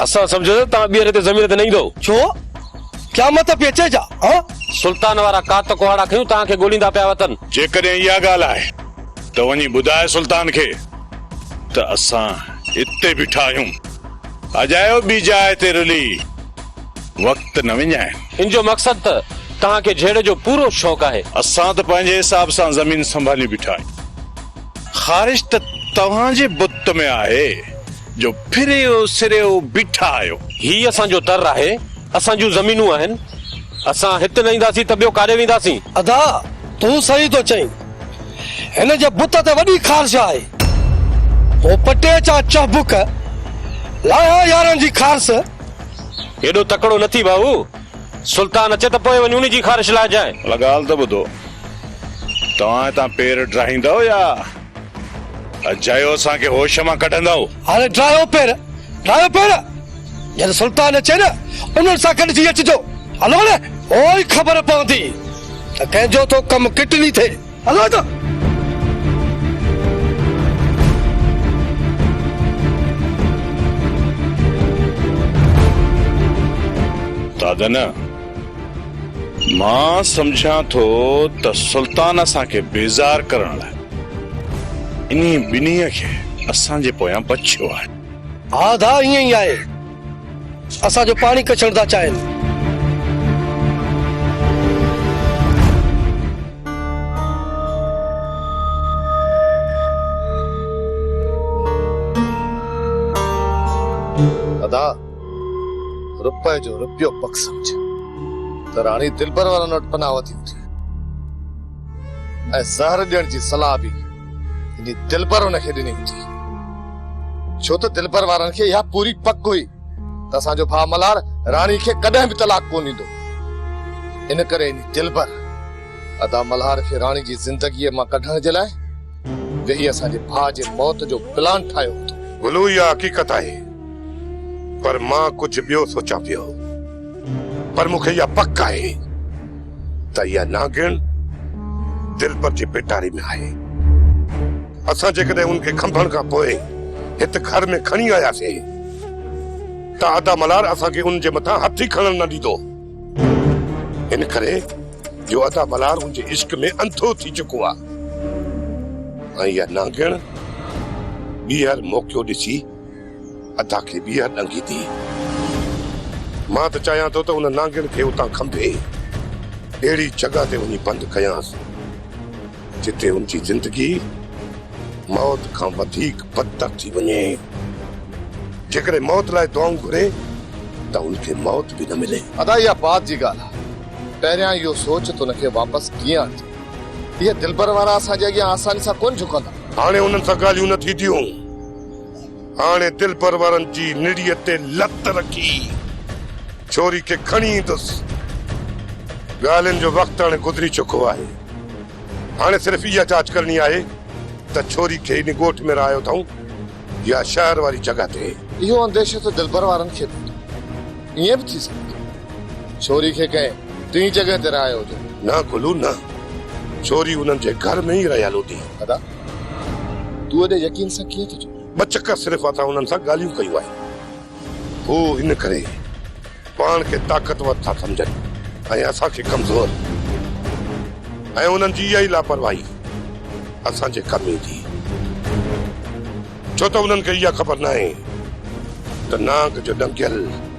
اسان سمجهيو ته توهان ٻيهر هتي زمين تي نه ايندؤ. ڇو؟ قيامت ته پئي اچي ڇا؟ هه! سلطان وارا ڪات ڪهاڙا کنيون توهان کي ڳوليندا پيا وتن. جيڪڏهن اها ڳالهه آهي ته وڃي ٻڌاء سلطان کي ته اسان اتي بيٺا آهيون. اجايو ٻي جاء تي رلي وقت نه وڃائين. ان جو مقصد ته توهان کي جهيڙي جو پورو شوق آهي. اسان ته پنهنجي حساب سان زمين سنڀاليون بيٺا آهيون. خارش ته توهان جي بت ۾ آهي. جو پھريون سريون بيٺا آھيو. ھي اسان جو در آھي. اسان جون زمينون آھن. اسان ھت نه اينداسين ته ٻيو ڪاڏي وينداسين. ادا تون صحيح ٿو چئين. ھن جي بت تي وڏي خارش آھي. ھو پٽي چا چهبڪ لاھيا يارن جي خارس. ايڏو تڪڙو نه ٿي ڀائو. سلطان اچي ته پوء وڃ ان جي خارش لاھجانء. ھن ڳالھ ته ٻڌو. توھان ھتان پير ڊاھيندؤ يا. اجايو اسان کي هوش مان ڪڍندؤ. هاڻي ڊاهيو پير، ڊاهيو پير! جڏهن سلطان اچي نه، انهن سان گڏ ٿي اچجو. هلو نه! پوء ئي خبر پوندي ته ڪنهن جو ٿو ڪم ڪٽني ٿئي. هلو نه! دادا نه! مان سمجهان ٿو ته سلطان اسان کي بيزار ڪرڻ لاء انهي ٻنهي کي اسان جي پويان بڇيو آهي. ها ڌاء ائين ئي آهي. اسان جو پاڻي ڪڇڻ ٿا چاهين. ها ڌاء! روپئي جو روپيو پڪ سمجهه ته راڻي دلبر وارن وٽ پناهه وڌي هوندي ۽ زهر ڏيڻ جي صلاح به انهي دلبر هن کي ڏني هوندي ڇو ته دلبر وارن کي اها پوري پڪ هئي ته اسان جو ڀاء ملهار راڻي کي ڪڏهن به طلاق ڪونه ڏيندو ان ڪري انهي دلبر ادا ملهار کي راڻي جي زندگيء مان ڪڍڻ جي لاء ويهي اسان جي ڀاء جي موت جو پلان ٺاهيو هوندو گلو اها حقيقت آهي پر مان ڪجهه ٻيو سوچان پيو. پر مون کي اها پڪ آهي ته اها نانگڻ دلبر جي پيٽاري ۾ آهي. اسان جيڪڏهن ان کي کنڀڻ کان پوء هت گهر ۾ کڻي آياسين ته ادا ملهار اسان کي ان جي مٿان هٿ ئي کڻڻ نه ڏيندو. ان ڪري جو ادا ملهار ان جي عشق ۾ انڌو ٿي چڪو آهي ۽ اها نانگڻ ٻيهر موقعو ڏسي ادا کي ٻيهر ڏنگي ٿي. مان ته چاهيان ٿو ته ان نانگڻ کي اتان کنڀي اهڙي جڳهه تي وڃي بند ڪيانس جتي ان جي زندگي موت کان وڌيڪ بدتر ٿي وڃي. جيڪڏهن موت لاء دعائون گهري ته ان کي موت به نه ملي. ادا اها بعد جي ڳالهه آهي. پهريان اهو سوچ ته ان کي واپس ڪيئن آڻجي. اهي دلبر وارا اسان جي اڳيان آساني سان ڪونه جهڪندا. هاڻي انهن سان ڳالهيون نه ٿينديون. هاڻي دلپرورن جي نڙيء تي لت رکي ڇوري کي کڻي ايندس. ڳالهين جو وقت هاڻي گذري چڪو آهي. هاڻي صرف اها جاچ ڪرڻي آهي ته ڇوري کي انهي ڳوٺ ۾ رهايو اٿائون يا شهر واري جڳهه تي. اهو انديشو ته دلپروارن کي به هوندو. ائين به ٿي سگهي ٿو ڇوري کي ڪنهن ٽئين جڳهه تي رهايو هجن. نه گلو نه. ڇوري انهن جي گهر ۾ ئي رهيل هوندي. ادا! تون ايڏي يقين سان ڪيئن ٿو چوين؟ ٻه چڪر صرف اسان انهن سان ڳالهيون ڪيون آهن. هو ان ڪري پاڻ کي طاقتور ٿا سمجهن ۽ اسان کي ڪمزور ۽ انهن جي اها ئي لاپرواهي اسان جي ڪم ايندي. ڇو ته انهن کي اها خبر ناهي ته نانگ جو ڏنگيل.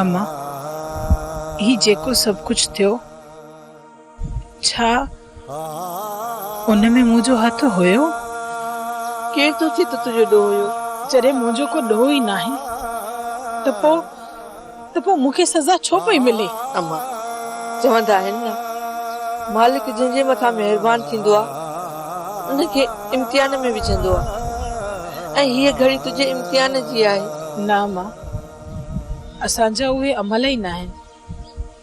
اما، هي جيڪو سڀ ڪجهه ٿيو، ڇا ان ۾ منهنجو هٿ هيو؟ ڪير ٿو چئي ته تنهنجو ڏوهه هيو؟ جڏهن منهنجو ڪو ڏوهه ئي ناهي ته پوء. ته پوء مون کي سزا ڇو پئي ملي؟ امان، چوندا آهن نه مالڪ جنهن جي مٿان مهربان ٿيندو آهي ان کي امتحان ۾ وجهندو آهي ۽ هيء گهڙي تنهنجي امتحان جي آهي. نه امان، اسان جا اهي عمل ئي ناهن.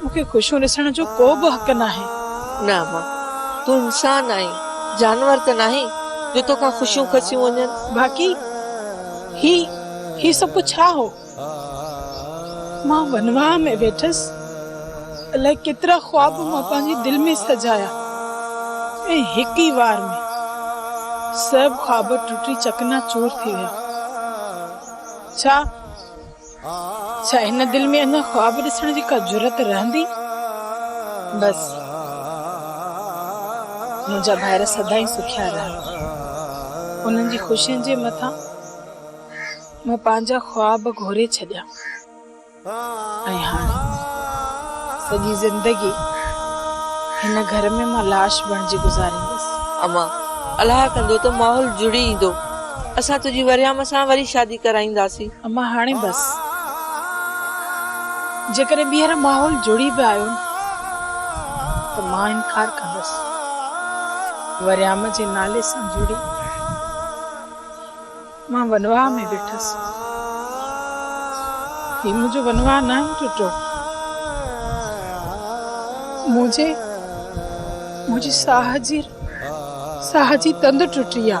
مون کي خوشيون ڏسڻ جو ڪو به حق ناهي. نه امان، تون انسان آهين، جانور ته ناهين جو تو کان خوشيون کسيون وڃن. باقي هي، هي سڀ ڪجهه ڇا هو؟ مان ونواهه ۾ ويٺس، الائي ڪيترا خواب مان پنهنجي دل ۾ سجايا ۽ هڪ ئي وار ۾ سڀ خواب ٽٽي چڪنا چور ٿي ويا. ڇا؟ ڇا هن دل ۾ اڃا خواب ڏسڻ جي ڪا جرئت رهندي؟ بس منهنجا ڀائر سدائين سکيا رهن. انهن جي خوشين جي مٿان مان پنهنجا خواب گهوري ڇڏيا ۽ هاڻي سڄي زندگي هن گهر ۾ مان لاش بڻجي گذاريندس. اما، الاهه ڪندو ته ماحول جڙي ايندو. اسان تنهنجي وريام سان وري شادي ڪرائينداسين. اما هاڻي بس. جيڪڏهن ٻيهر ماحول جڙي به آيو نه ته مان انڪار ڪندس. وريام جي نالي سان جڙي مان ونواهه ۾ ويٺس. هي منهنجو ونواهه ناهي ٽٽو. منهنجي منهنجي ساهه جي ساهه جي تند ٽٽي آ.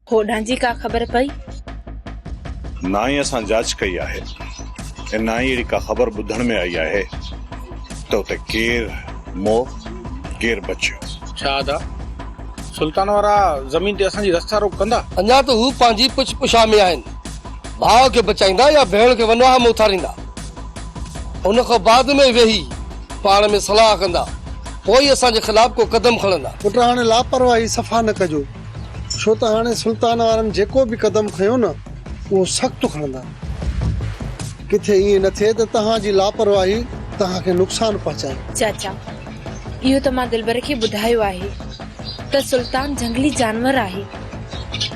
هوڏانهن جي ڪا خبر پئي؟ نه ئي اسان جاچ ڪئي آهي ۽ نه ئي اهڙي ڪا خبر ٻڌڻ ۾ آئي آهي ته اتي ڪير مور ڪير بچيو. ڇا ادا سلطان وارا زمين تي اسان جي رستا روڪ ڪندا؟ اڃا ته هو پنهنجي پڇ پڇا ۾ آهن. ڀاء کي بچائيندا يا ڀيڻ کي ونواهه ۾ اٿاريندا. ان کان بعد ۾ ويهي پاڻ ۾ صلاح ڪندا. پوء ئي اسان جي خلاف ڪو قدم کڻندا. پٽ هاڻي لاپرواهي صفا نه ڪجو. ڇو ته هاڻي سلطان وارن جيڪو به قدم کنيو نه اهو سخت کڻندا. ڪٿي ائين نه ٿئي ته توهان جي لاپرواهي توهان کي نقصان پهچائي. چاچا اهو ته مان دلبر کي ٻڌايو آهي ته سلطان جهنگلي جانور آهي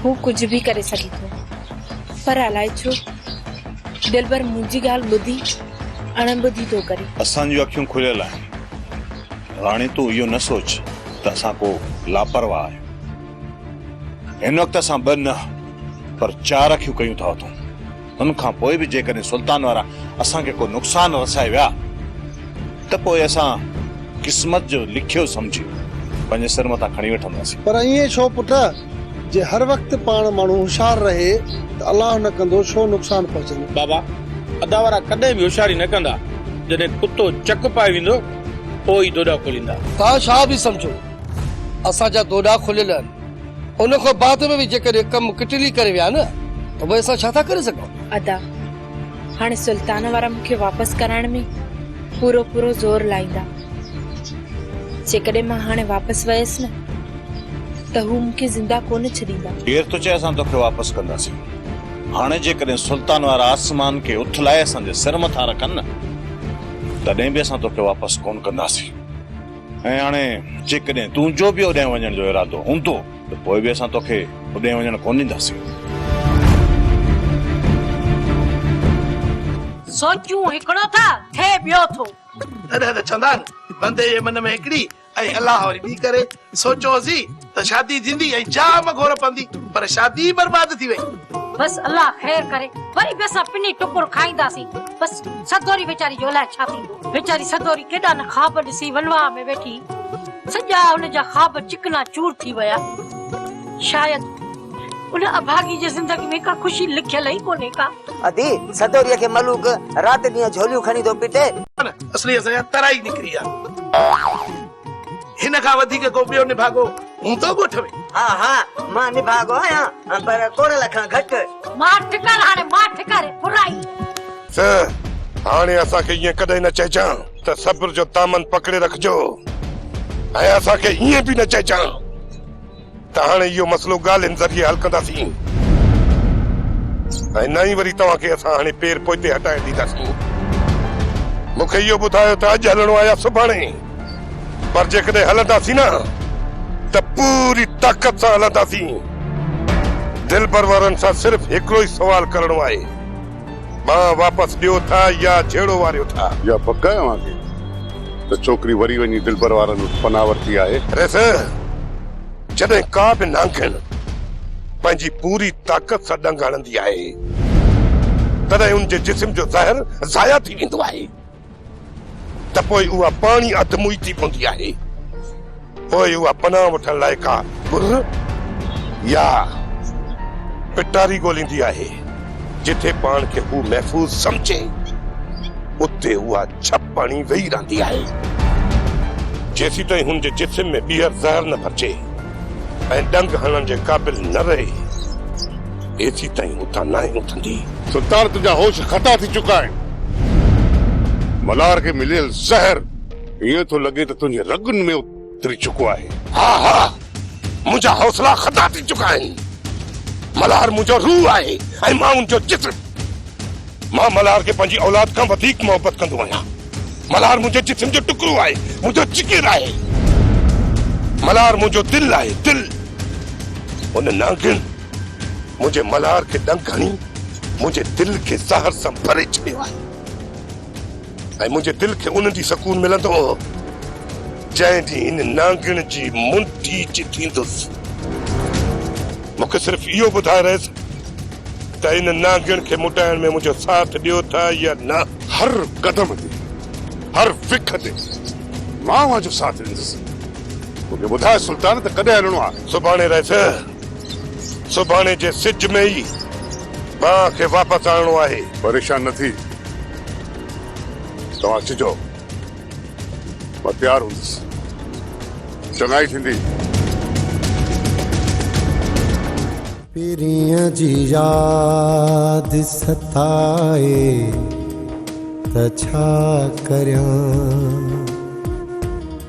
هو ڪجهه به ڪري سگهي ٿو پر الائي ڇو دلبر منهنجي ڳالهه ٻڌي اڻ ٻڌي ٿو ڪري. اسان جون اکيون کليل آهن. راڻي تون اهو نه سوچ ته اسان ڪو لاپرواهه آهيون. هن وقت اسان ٻه نه پر چار اکيون ڪيون ٿا اٿون. ان کان پوء به جيڪڏهن سلطان وارا اسان کي ڪو نقصان رسائي ويا ته پوء اسان قسمت جو لکيو سمجهي پنهنجي سر مٿان کڻي وٺنداسين. پر ائين ڇو پٽ؟ جي هر وقت پاڻ ماڻهو هوشيار رهي ته الله نه ڪندو ڇو نقصان پهچندو. بابا، ادا وارا ڪڏهن به هوشياري نه ڪندا. جڏهن ڪتو چڪ پائي ويندو پوء ئي دوڏا کوليندا. توهان ڇا به سمجهو، اسان جا دوڏا کليل آهن. ان کان بعد ۾ به جيڪڏهن ڪم ڪٽلي ڪري ويا نه ته پوء اسان ڇا ٿا ڪري سگهون؟ ادا، هاڻي سلطان وارا مون کي واپس ڪرائڻ ۾ پورو پورو زور لائيندا. جيڪڏهن مان هاڻي واپس ويس نه ته هو مون کي زنده ڪونه ڇڏيندا. ڪير ٿو چئي اسان توکي واپس ڪنداسين. هاڻي جيڪڏهن سلطان وارا آسمان کي اٿلائي اسان جي سر مٿان رکن نه. تڏهن به اسان توکي واپس ڪونه ڪنداسين ۽ هاڻي جيڪڏهن تنهنجو به اوڏانهن وڃڻ جو ارادو هوندو ته پوء به اسان توکي اوڏانهن وڃڻ ڪونه ڏينداسين. سوچيون هڪڙو ٿا، ٿئي ٻيو ٿو. تڏهن ته چوندان، بندي جي من ۾ هڪڙي اي الله وري ٻي ڪري سوچيو هوسي ته شادي ٿيندي ۽ جام گهور پوندي پر شادي ئي برباد ٿي وئي. بس الله خير ڪري وري به اسان پني ٽڪر کائينداسين بس سدوري ويچاري جو الاء ڇا ٿيندو ويچاري سدوري ڪيڏا نه خواب ڏسي ولواهه ۾ ويٺي سڄا هن جا خواب چڪنا چور ٿي ويا شايد ان اڀاڳي جي زندگي ۾ ڪا خوشي لکيل ئي ڪونهي ڪا. ادي سدوريء کي ملوڪ رات ڏينهن جهوليون کڻي ٿو پٽي. اصلي اسان جا ترائي نڪري آ. هن کان وڌيڪ ڪو ٻيو نڀاڳو هوندو ڳوٺ ۾؟ ها ها مان نڀاڳو آهيان پر ڪورل کان گهٽ. ماٺ ڪر هاڻي ماٺ ڪر برائي. سه هاڻي اسان کي ائين ڪڏهن نه چئجان ته صبر جو دامن پڪڙي رکجو ۽ اسان کي ائين به نه چئجان. ته هاڻي اهو مسئلو ڳالهين ذريعي حل ڪنداسين ۽ نه ئي وري توهان کي اسان هڻي پير پوئتي هٽائي ڏينداسين. مون کي اهو ٻڌايو ته اڄ هلڻو آهي يا سڀاڻي، پر جيڪڏهن هلنداسين نه ته پوري طاقت سان هلنداسين. دلبر وارن سان صرف هڪڙو ئي سوال ڪرڻو آهي. ٻه واپس ڏيو ٿا يا جهيڙو واريو ٿا. يا پڪ آهي اوهان کي ته ڇوڪري وري وڃي دلبر وارن وٽ پناهه ورتي آهي؟ ريس، جڏهن ڪا به نانگڻ پنهنجي پوري طاقت سان ڏنگ هڻندي آهي، تڏهن ان جي جسم جو زهر ضايع ٿي ويندو آهي. ته پوء اها پاڻهي اڌ موئي ٿي پوندي آهي. پوء اها پناهه وٺڻ لاء ڪا ٻر يا پٽاري ڳوليندي آهي، جتي پاڻ کي هو محفوظ سمجهي. اتي اها ڇپ هڻي ويهي رهندي آهي، جيسيتائين هن جي جسم ۾ ٻيهر زهر نه ڀرجي. ۽ ڏنگ هڻڻ جي قابل نه رهي، ايسيتائين اتان ناهي اٿندي. سلطان تنهنجا هوش خطا ٿي چڪا آهن. ملار کي مليل زهر ائين ٿو لڳي ته تنهنجي رڳن ۾ اتري چڪو آهي. ها ها منهنجا حوصلا خطا ٿي چڪا آهن. ملار منهنجو روح آهي ۽ مان ان جو جسم. مان ملهار کي پنهنجي اولاد کان وڌيڪ محبت ڪندو آهيان. ملهار منهنجي جسم جو ٽڪرو آهي، منهنجو جگر آهي. ملهار منهنجو دل آهي، دل. ان نانگن منهنجي ملهار کي ڏنگ هڻي منهنجي دل کي زهر سان ڀري ڇڏيو آهي. ۽ منهنجي دل کي ان ڏينهن سڪون ملندو جنهن ڏينهن ان نانگڻ جي منڍي جي ٿيندس. مون کي صرف اهو ٻڌائي رئيس ته ان نانگڻ کي مٽائڻ ۾ منهنجو ساٿ ڏيو ٿا يا نه. هر قدم تي هر وک تي مان اوهان جو ساٿ ڏيندس. مون کي ٻڌاء سلطان ته ڪڏهن هلڻو آهي. سڀاڻي رئيس. سڀاڻي جي سج ۾ ئي ٻانهن کي واپس آڻڻو آهي. پريشان نه ٿي. توهان اچي چئو. مان تيار هوندس. چڱائي ٿيندي. پرينء جي ياد ستائي ته ڇا ڪريان.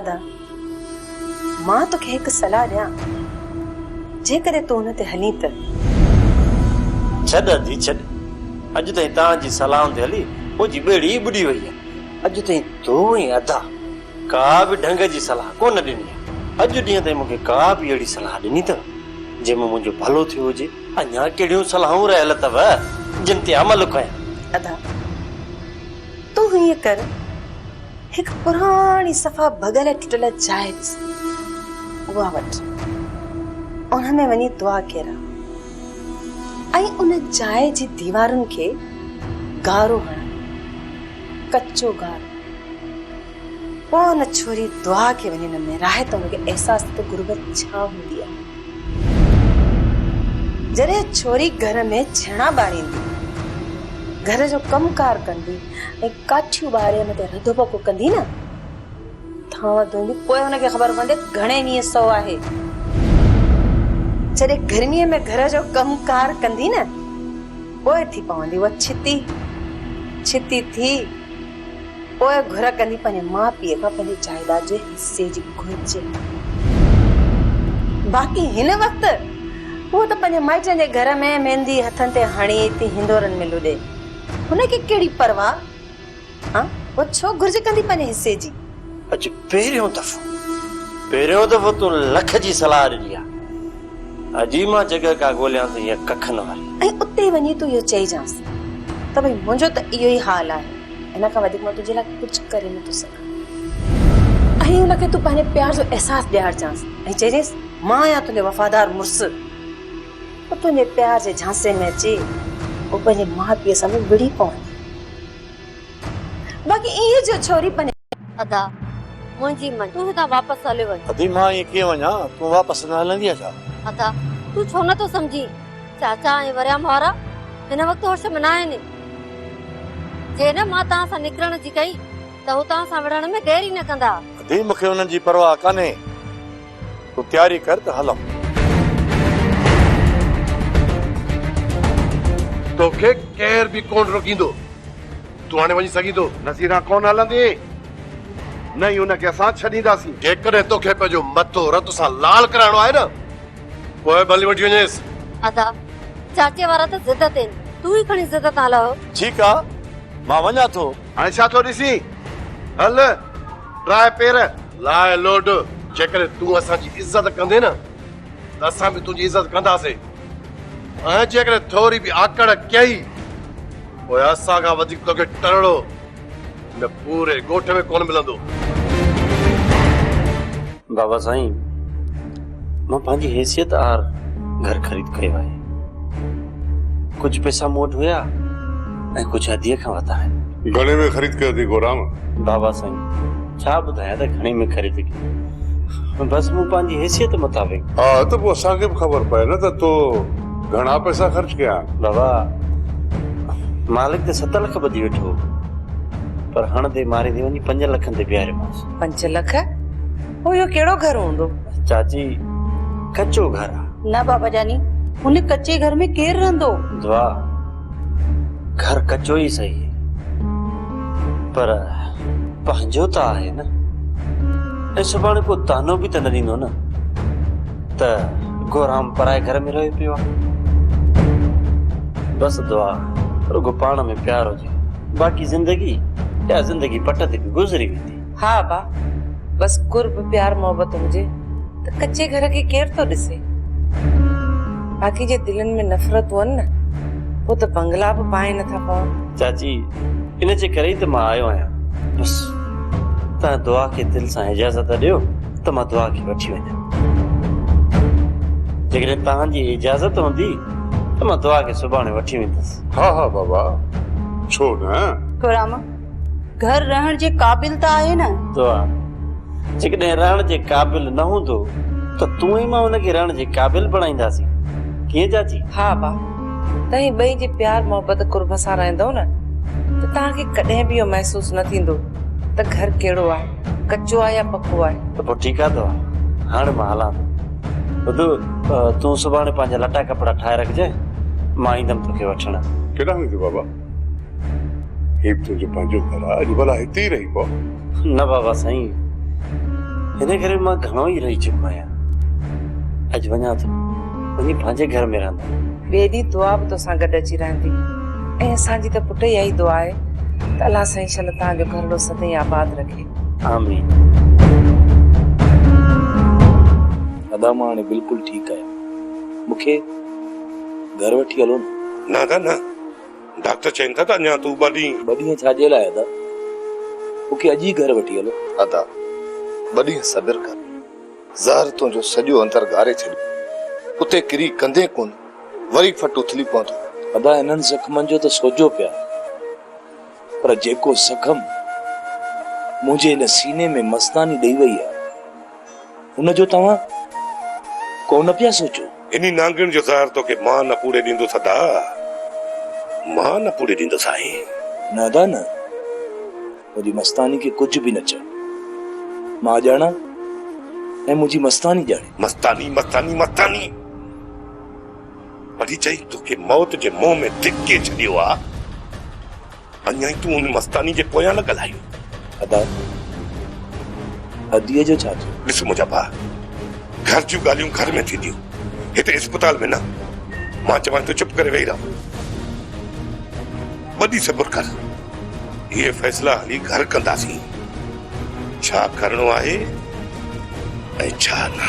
ادا! مان توکي هڪ صلاح ڏيان، جيڪڏهن تون ان تي هلين ته. ڇڏ ادي ڇڏ، اڄ تائين تان جي صلاحن تي هلي او جي ٻيڙي ئي ٻڏي وئي آهي. اڄ تائين تون ۽ ادا ڪا به ڍنگ جي صلاح ڪو نه ڏني آهي. اڄ ڏينهن تائين مون کي ڪا به اهڙي صلاح ڏني اٿو، جنهن مان منهنجو ڀلو ٿيو هجي؟ اڃا ڪهڙيون صلاحون رهيل اٿو، جن تي عمل ڪيان؟ ادا! تون هيئن ڪر. هڪ پراڻي صفا ڀڳل ٽٽل جاء ڏسي اها وٽ ان ۾ وڃي دعا ڪيرا ۽ ان جاء جي ديوارن کي گارو هڻا ڪچو گارو پوء ان ڇوري دعا کي وڃي نه ميراهي ته هن کي احساس ته غربت ڇا هوندي آهي جڏهن ڇوري گهر ۾ ڇيڻا ٻاريندي گهر جو ڪم ڪار ڪندي ۽ ڪاٺيون ٻاري ان تي رڌو پڪو ڪندي نه ٿان وڌوندي پوء ان کي خبر پوندي ته گهڻي ويهه سو آهي. جڏهن گرميء ۾ گهر جو ڪم ڪار ڪندي نه پوء ٿي پوندي اها ڇتي. ڇتي ٿي پوء گهر ڪندي پنهنجي ماء پيء کان پنهنجي جائيداد جي حصي جي گهرج. باقي هن وقت هوء ته پنهنجي مائٽن جي گهر ۾ ميندي هٿن تي هڻي ٿي هندورن ۾ لڏي. هن کي ڪهڙي پرواهه ها اها ڇو گهرج ڪندي پنهنجي حصي جي. اڄ پهريون دفعو پهريون دفعو تون لک جي صلاح ڏني آ اڄ ئي مان جڳهه ڪا ڳوليان ته هيء ڪکن واري. ۽ اتي وڃي تون اهو چئجانس ته ڀئي منهنجو ته اهو ئي حال آهي ان کان وڌيڪ مان تنهنجي لاء ڪجهه ڪري نٿو سگهان. ۽ ان کي تون پنهنجي پيار جو احساس ڏيارجانس ۽ چئجينس مان آهيان تنهنجو وفادار مڙس. هو تنهنجي پيار جي جھانسي ۾ اچي هو پنهنجي ماء پيء سان به وڙهي پوندي. باقي ايئن جو ڇوري پنهنجي. ادا منهنجي مڃ تون هتان واپس هليو وڃ. ادي مان ائين ڪيئن وڃان تون واپس نه هلندينء ڇا؟ ادا تون ڇو نه ٿو سمجهين چاچا ۽ وريام وارا هن وقت هوش ۾ نه آهن جي نه مان توهان سان نڪرڻ جي ڪئي ته هو توهان سان وڙهڻ ۾ دير ئي نه ڪندا. ادي مونکي انهن جي پرواهه ڪانهي تون تياري ڪر ته هلون. توکي ڪير به ڪونه روڪيندو. تون هاڻي وڃي سگهين ٿو. نصيرا ڪونه هلندي. نه ئي هن کي اسان ڇڏينداسين. جيڪڏهن توکي پنهنجو مٿو رت سان لال ڪرائڻو آهي نه پوء به هلي وٺي وڃيس. ادا، چاچي وارا ته ضد تين. تون ئي کڻي ضد تان لهه. ٺيڪ آ مان وڃان ٿو. هاڻي ڇا ٿو ڏسين. هل. راء پير لاء لوڏ جيڪڏهن تون اسان جي عزت ڪندين نه ته اسان به تنهنجي عزت ڪنداسين ۽ جيڪڏهن ٿوري به آڪڙ ڪئي پوء اسان کان وڌيڪ توکي ٽرڙو هن پوري ڳوٺ ۾ ڪونه ملندو بابا سائين مان پنهنجي حيثيت آهر گهر خريد ڪيو آهي ڪجهه پئسا مون وٽ هيا ۽ ڪجهه اديء کان ورتا آهن گهڻي ۾ خريد ڪيو اٿئي گورام؟ بابا سائين ڇا ٻڌايان ته گهڻي ۾ خريد ڪيو بس مون پنهنجي حيثيت مطابق. ها ته پوء اسان کي به خبر پئي نه ته تو گهڻا پئسا خرچ ڪيا آهن. بابا مالڪ ته ست لک ٻڌي ويٺو پر هڻندي ماريندي وڃي پنجن لکن تي بيهاريومانس. پنج لک پوء اهو ڪهڙو گهر هوندو؟ چاچي ڪچو گهر آ. نه بابا جاني هن ڪچي گهر ۾ ڪير رهندو؟ دعا گهر ڪچو ئي سهي پر پنهنجو ته آهي نه ۽ سڀاڻي ڪو طعنو به ته نه ڏيندو نه ته گورام پرائي گهر ۾ رهيو پيو آهي. بس دعا رڳو پاڻ ۾ پيار هجي باقي زندگي يا زندگي پٽ تي به گذري ويندي. ها ابا، بس قرب پيار محبت هجي ته ڪچي گهر کي ڪير ٿو ڏسي. باقي جي دلين ۾ نفرت هئن نه پوء ته بنگلا به پاهي نه ٿا پون. چاچي، ان جي ڪري ئي ته مان آيو آهيان. بس تنهن دعا کي دل سان اجازت ڏيو ته مان دعا کي وٺي وڃان. جيڪڏهن توهان جي اجازت هوندي ته مان دعا کي سڀاڻي وٺي ويندس. ها ها بابا، ڇو نه. ٿورام، گهر رهڻ جي قابل ته آهي نه؟ دعا، جيڪڏهن رهڻ جي قابل نه هوندو ته تون ۽ مان ان کي رهڻ جي قابل بڻائينداسين. ڪيئن چاچي؟ ها با، توهين ٻئي جي پيار محبت قرب سان رهندؤ نه ته توهان کي ڪڏهن به اهو محسوس نه ٿيندو ته گهر ڪهڙو آهي، ڪچو آهي يا پڪو آهي. ته پوء ٺيڪ آهي دعا، هاڻي مان هلان ٿو. ٻڌ، تون سڀاڻي پنهنجا لٽا ڪپڙا ٺاهي رکجانء، مان ايندم توکي وٺڻ. ڪيڏانهن ويندين بابا؟ هي به تنهنجو پنهنجو گهر آهي، اڄ ڀلا هتي ئي رهي پو. نه بابا سائين، هن گهر ۾ مان گهڻو ئي رهي چڪو آهيان. اڄ وڃان ٿو، وڃي پنهنجي گهر ۾ رهندم. ٻئي ڏينهن دعا به توسان گڏ اچي رهندي ۽ اسان جي ته پٽ اها ئي دعا آهي ته الله سائين شل توهان جو گهرڙو سدائين آباد رکي. آمين. ادا مان هاڻي بلڪل ٺيڪ آهيان، مون کي گهر وٺي هلو نه. نه ادا نه، ڊاڪٽر چين ٿا ته اڃا تون ٻه ڏينهن. ٻه ڏينهن ڇاجي لاء ادا؟ مون کي اڄ ئي گهر وٺي هلو. ادا! ٻه ڏينهن صبر ڪر. زهر تنهنجو سڄو اندر ڳاري ڇڏيندو. اتي ڪري ڪندين ڪونه، وري فٽ اٿلي پوندو. ادا انهن زخمن جو ته سوجهو پيا پر جيڪو زخم منهنجي ان سيني ۾ مستاني ڏئي وئي آهي. ان جو توهان ڪو نه پيا سوچو. انهي نانگڻ جو زهر توکي مان نه پوڙهي ڏيندس ادا، مان نه پوڙهي ڏيندس سائين. نه ادا نه، منهنجي مستاني کي ڪجهه به نه چئه. مان ڄاڻان ۽ منهنجي مستاني ڄاڻي. مستاني مستاني مستاني! پري چئي توکي موت جي منهن ۾ ڌڪي ڇڏيو آ. اڃائي تون ان مستاني جي پويان لڳل آهين. ادا اديء جو ڇا ٿيو؟ ڏس منهنجا ڀاء گهر جون ڳالهيون گهر ۾ ٿينديون هتي اسپتال ۾ نه. مان چوانء ٿو چپ ڪري ويهي رهه. ٻه ڏينهن صبر ڪر. اهي فيصلا هلي گهر ڪنداسين. ڇا ڪرڻو آهي ۽ ڇا نه.